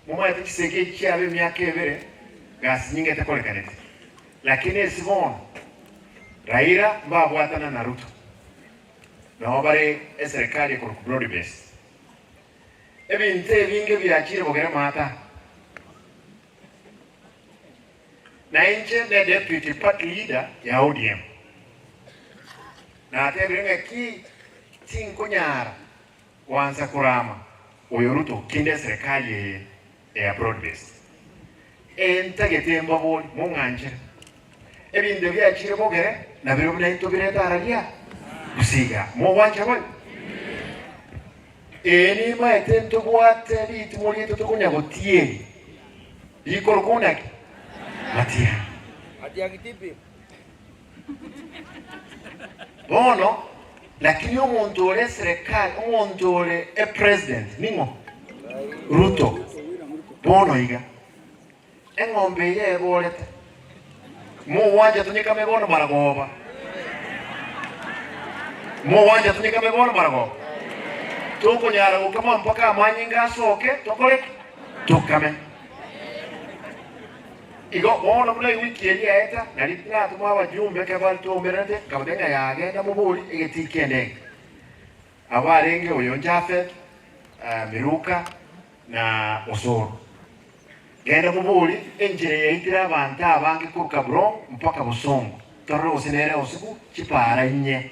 Momanyete chisegi echi chiaba emiaka ebere gasi nyingete korekaneti, lakini esi bono Raila mbabwatana na Ruto nabo bare eserekari ekorokwa broad based. Ebinto ebinge biachire bogere maata. Na inche ne deputy party leader ya ODM natebire ng'aki tinkonyara Kwansa korama oyo Ruto kinde eserekari eye eya broad based eye ntagete embabori mong'anchere ebinto biachire bogere nabiro buna into birete ara ria gusii iga mogwancha bari ee nimaete ntobwate ritimo rieto tokonya gotieri rikoro kouna ki matiari. Bono, lakini omonto ore eserekari, omonto ore epresident ning'o? Ruto. Bono iga, eng'ombe eye eborete, mogwancha tonyekame bono maragoba, mogwancha tonyekame bono maragoba, tokonyara gokama mpaka amanyinga asoke, tokore ki? Tokame. Igo bono buna ewiki eye yaeta, nari natoma abajumbe ekero bare twaumererete, nkabateebia ng'a yagenda mobori egetii ki'endege. Aba arenge oyo Jafet, Miruka, na Osoro. Genda mobori enchera eyaitire abanto abange korwa Kabulon mpaka bosongo, torore gose nere osigu chipaara inye.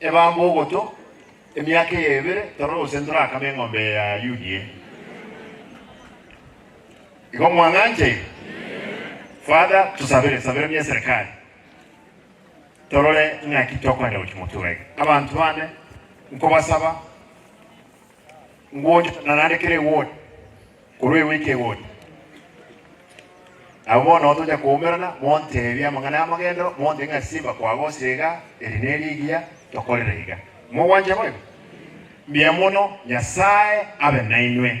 Ebambe ogotwa, emiaka eye ebere torore gose ntorakame eng'ombe eye ya Ayugi eye. Igo mwang'anchaine? Father, tosabere, sabera buna eserekari torore ng'aki tokoenda gochia motura iga. Abanto bande nkobasaba. Ngocha, na naende kera egori korwa egoika egori. Nabo bono tocha koumerana, monteebie amang'ana y'amagendero, montebie ng'a simba kwagosire iga, eri nerigiya, tokorere iga. Mogwancha boigo? Mbuya mono, Nyasae abe nainwe.